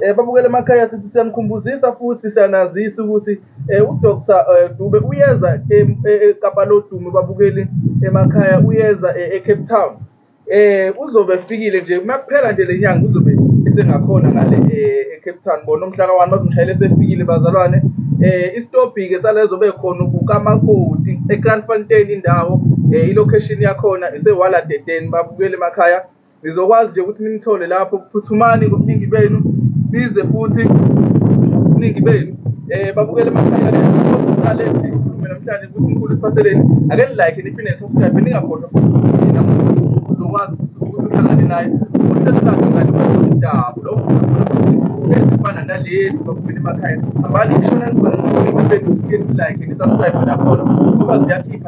Eh babukele emakhaya sithi siyanikhumbuzisa futhi siyanazisa ukuthi eh uDr eh, Dube uyeza eKapa eh, eh, lodumo babukeli emakhaya uyeza eCape Town. Eh uzobe efikile nje uma kuphela nje lenyanga uzobe esengakhona ngale eCape Town bona umhla ka1 bazomshayela esefikile bazalwane. Eh isitobhi ke salezo bekhona kukaMakoti eCranfontein indawo eh ilocation yakhona iseWaladedeni babukele emakhaya Nizokwazi nje ukuthi nimthole lapho. Phuthumani ngobuningi benu, nize futhi ngobuningi benu. Eh babukele amakhaya esiqale sikhulume namhlanje ukuthi uNkulunkulu usiphaseleni. Ake nilike niphinde nisubscribe ningakhohlwa futhi ukuthi nina uzokwazi ukuthi uhlangane naye. Uhlelo lakhe ngane kwezomdabu lo ezifana nalezi baphumela emakhaya. Hambani nishona nibona ngobuningi benu, like nisubscribe nakhona ngoba ziyakhipha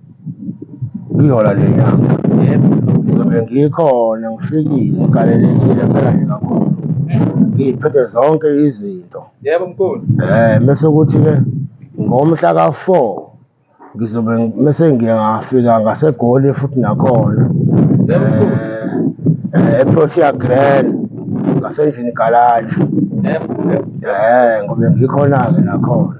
Ihora lenyanga. Yebo. Ngizobe ngikhona ngifikile ngikalelekile phela nje kakhulu. Ngiyiphethe zonke izinto. Yebo mkhulu. Eh mese kuthi ke ngomhla ka-4 ngizobe mese ngiye ngafika ngaseGoli futhi nakhona. Yebo mkhulu. Eh, eh eProtea Grand ngasendlini garage. Yebo. Eh ngobe ngikhona-ke nakhona.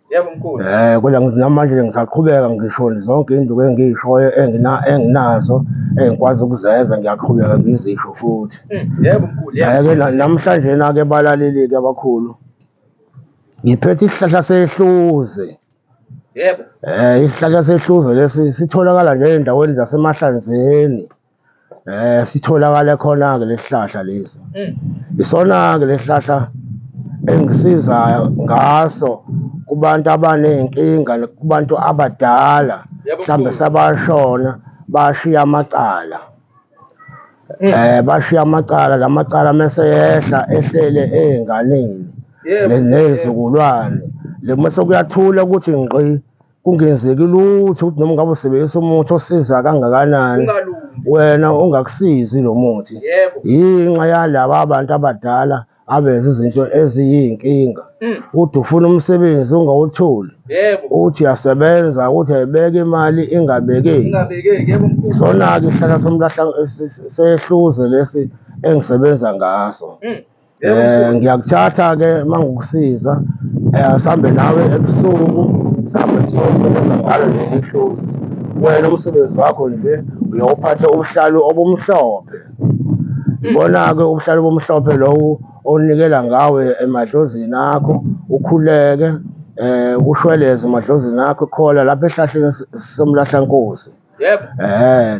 Yebo mkhulu. Eh kodwa ngithi namanje ke ngisaqhubeka ngisho zonke induku engiyishoyo engina enginazo engikwazi ukuzenza ngiyaqhubeka ngizisho futhi. Mm, Yebo mkhulu. Yebo. Ayeke na- namhlanje nake balaleli ke abakhulu. Ngiphethe isihlahla sehluze. Yebo. Eh isihlahla sehluze lesi sitholakala nje endaweni zasemahlanzeni. Eh sitholakala khona ke lesihlahla lesi. Mm. Isona ke lesihlahla engisiza ngaso kubantu abanenkinga kubantu abadala mhlambe sabashona bashiya amacala. Mm. Eh bashiya amacala lamacala mase yehla ehlele ezinganeni nezizukulwane. Le mase kuyathula ukuthi ngqi kungenzeki lutho ukuthi noma ngabe usebenzisa umuthi osiza kangakanani ungalungi wena ungakusizi lo muthi yebo yinxa yalaba abantu abadala abenza izinto eziyinkinga Mm. uthi ufuna umsebenzi ungawutholi yebo uthi uyasebenza uthi ayibeke imali ingabekeki ingabekeki yebo mkhulu isona-ke isihlahla somlahla sehluze lesi engisebenza ngaso Mm. eh ngiyakuthatha ke mangukusiza eh sambe nawe ebusuku sambe sosebenza ngalo leli hluzi wena umsebenzi wakho nje uyawuphatha ubuhlalu obumhlophe ibona-ke ubuhlalu obumhlophe lowo onikela ngawe emadlozini akho ukhuleke um kushweleze emadlozini akho khola lapha ehlahleni somlahlankosi Yebo. Eh,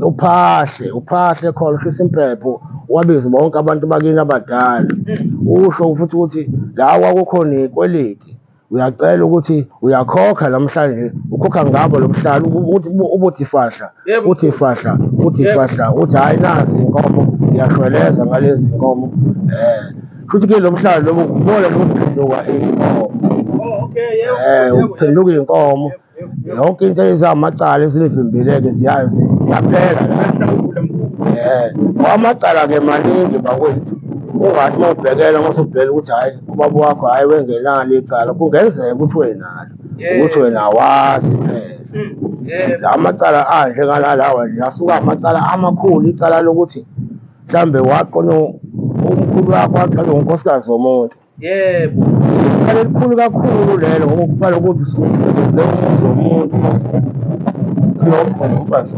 uphahle, uphahle khona ushisa impepho wabiza bonke abantu bakini abadala. Hmm. Usho futhi ukuthi la kwakukhona ikweliti. Uyacela ukuthi uyakhokha namhlanje ukhokha ngabo lomhlalo ukuthi ubuthi fahla, uthi fahla, uthi fahla, uthi hayi nazi inkomo ngiyashweleza ngalezi inkomo. Eh. futhi ke lo mhlaba lobo kubona lokuphenduka inkomo um ukuphenduka iy'nkomo yonke into ezamacala esinivimbile-ke ziyazi ziyaphela la um amacala-ke maningi bakwethu ungathi uma ubhekela uma usubhela ukuthi hhayi ubaba wakho hhayi wengenalo icala kungenzeka ukuthi wenalo ukuthi wena awazi phela la macala adle ngalalawa nje asuke amacala amakhulu icala lokuthi mhlambe waqonywa umkhulu wakho waqonywa unkosikazi womuntu yebo iqala elikhulu kakhulu lelo ngoba kufana ukuthi usebenzise umuzi womuntu umfazi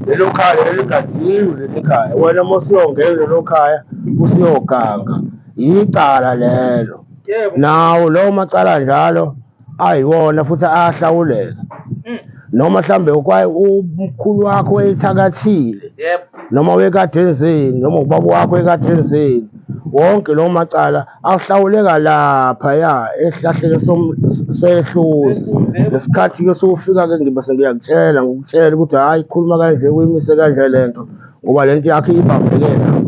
lelo khaya eligadiwe leli khaya wena uma usiyongena lelo khaya usiyoganga yicala lelo nawo lowo macala njalo ayiwona futhi ahlawuleka Mm. noma mhlambe ukwaye umkhulu wakho wayethakathile Yep. noma wekade enzeni noma ubaba wakho wekade enzeni wonke lawo macala ahlawuleka lapha ya esihlahleni som- sehluzi Sehluzi, yebo. ngesikhathi ke sokufika ke ngibe sengiyakutshela ngokutshela ukuthi hhayi khuluma kanje kuyimise kanje le nto ngoba le nto yakhe ibambeke lapho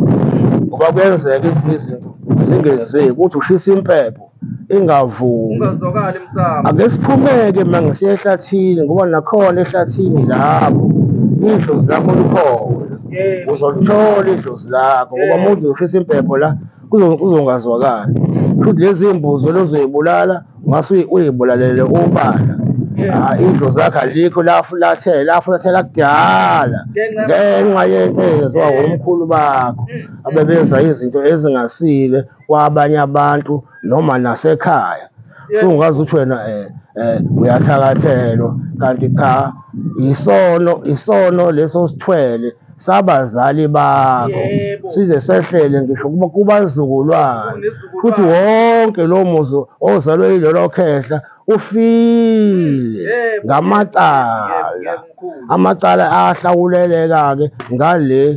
ngoba kuyenzeka ezinye izinto zingenzeki ukuthi ushisa impepho ingavumi ungazwakali msamo ake siphumeke manje siye ehlathini ngoba nakhona ehlathini lapho idlozi lakho likhona Eh, uzolithola idlozi lakho ngoba Yeah. umuntu uzoshisa impepho la kuzo- kuzongazwakali futhi lezi mbuzi olozoyibulala ungase uyi- uyibulalele ubala Yeah. Ah, idlozi lakho alikho lafulathela lafulathela kudala Ngenxa- ngenxa yentezo Yeah. womkhulu bakho Mm. abebenza izinto ezingasile kwabanye abantu noma nasekhaya sungazi ukuthi wena eh, eh uyathakathelwa kanti cha isono isono leso sithwele sabazali bakho size sehlele ngisho kuba kubazukulwane futhi wonke lo muzi ozalwe yilelo khehla ufile ngamacala amacala ahlawuleleka-ke ngale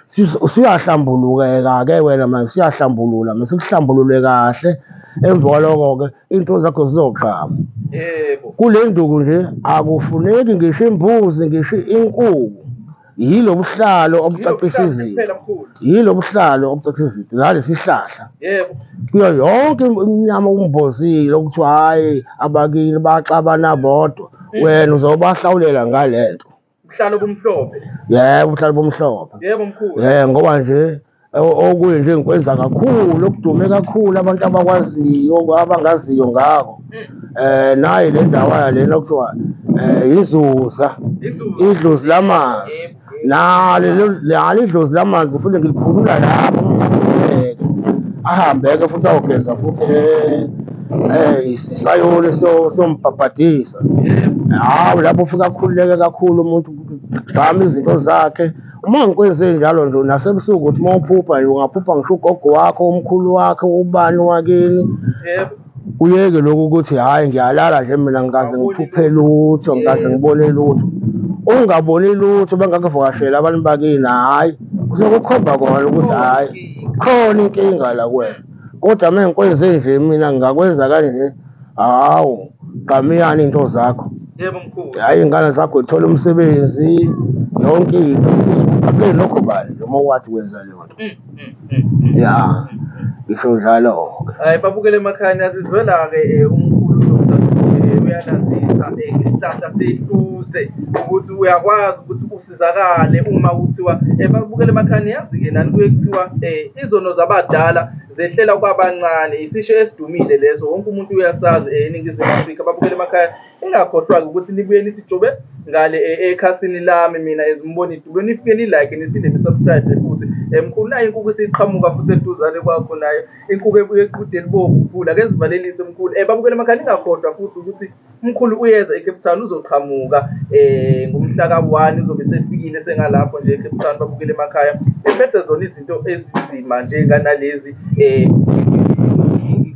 Siyahlambulukeka-ke wena manje, siyahlambulula manje, sikuhlambulule kahle. Emva kwaloko-ke iy'nto zakho zizogqama. Yebo. Kule nduku nje akufuneki ngisho imbuzi, ngisho inkukhu. Yilo buhlalo obucacisa izinto. Yilo buhlalo obucacisa izinto. Nalesi sihlahla. Yebo. Kuyo yonke iminyama okumbozile okuthiwa hhayi abakini baxabana bodwa. Mm. Wena uzobahlawulela ngale nto. Ubuhlalo bomhlophe. Yebo, ubuhlalo bomhlophe. Yebo mkhulu. Eh ngoba nje okunye nje ngikwenza kakhulu okudume kakhulu abantu abakwaziyo abangaziyo ngako. Mm. Eh nayi le ndawo yalena kuthiwa eh yizuza. Idlozi lamanzi. Nalo nalo idlozi lamanzi futhi ngilikhulula lapho umuntu ahambe ke futhi ayogeza futhi eh Eh sisayole siyombhabhadisa. Hawu lapho ufika akhululeke kakhulu umuntu gqama izinto zakhe. Uma ngikwenze njalo nje nasebusuku ukuthi uma uphupha nje ungaphupha ngisho ugogo wakho, umkhulu wakho, ubani wakini. Yebo. Uyeke lokhu ukuthi hhayi ngiyalala nje mina ngikaze ngiphuphe lutho, ngikaze ngibone lutho. Ungaboni lutho bengakuvakasheli abantu bakini, hhayi kuzokukhomba kona ukuthi hhayi khona inkinga la kuwena. kodwa uma ngikwenze nje mina ngingakwenza kanje hawu qamiyani into zakho yebo mkhulu hayi ingane zakho ithola umsebenzi yonke into abe lokho bani noma wathi wenza leyo nto mm, mm, mm, ya ngisho njalo hayi babukele emakhaya asizwela ke eh, umkhulu eh, uyanazisa eh, isihlahla sehluze ukuthi uyakwazi ukuthi basizakale uma kuthiwa eh, babukele emakhani yazi-ke nani kuye kuthiwa um izono zabadala zehlela kwabancane isisho esidumile leso wonke umuntu uyasazi um eningizimu afrika babukele emakhaya ingakhohlwa-ke ukuthi libuye lithi jobe ngale ekhasini lami mina ezimboni dube nifike nilike niphinde nisubscribe futhi mkhulu nayo inkukhu isiqhamuka futhi eduzane kwakho nayo inkukhu ebuye eqhude elibovu mkhulu akezivalelise mkhulu um babukele emakhaya ningakhohlwa futhi ukuthi umkhulu uyeza ecape town uzoqhamuka um ngomhla ka-one uzobe sefikile sengalapho nje ecape town babukele emakhaya ephethe zona izinto ezinzima njenganalezi um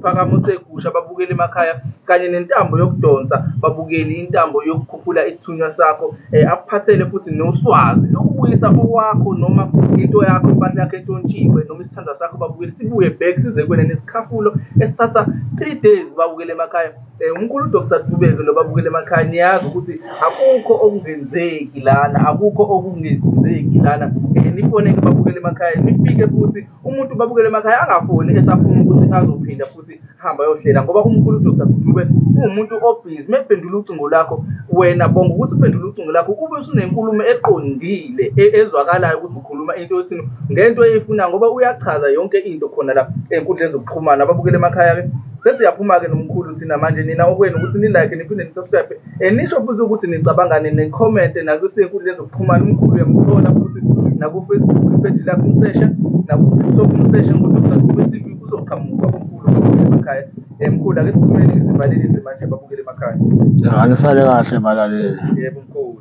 isiphakamo segusha babukele emakhaya kanye nentambo yokudonsa babukele intambo yokukhuphula isithunywa sakho eh, akuphathele futhi noswazi nokubuyisa okwakho noma into yakho impahla yakho entshontshiwe noma isithandwa sakho babukele sibuye back size kuwena nesikhafulo esithatha three days babukele emakhaya um umkhulu udr dubeke lo babukele emakhaya niyazi ukuthi akukho okungenzeki lana akukho okungenzeki lana um nifoneke babukele emakhaya nifike futhi umuntu babukele emakhaya angafoni esafuna ukuthi azophinda futhi hamba yohlela ngoba umkhulu udr gudube ungumuntu obhizi mephendula ucingo lakho wena bonga ukuthi uphendula ucingo lakho kube usunenkulumo eqondile e-, ezwakalayo ukuthi ukhuluma into yothini ngento eyifuna ngoba uyachaza yonke into khona la enkundleni zokuxhumana ababukele emakhaya-ke sesiyaphuma-ke nomkhulu thina manje nina okwenu ukuthi nilike niphinde nisubscribe Eh, nisho futhi ukuthi nicabangani nikhomente nakusenkundleni zokuxhumana umkhulu uyamthola futhi nakufacebook ipheji lakhe umsesha nakutiktok umsesha ngodr kube tv kuzoqhamuka umkhulu emakhaya eh, mkhulu ake siphumele ngisivalelise manje babukele emakhaya anisale kahle balaleli yebo mkhulu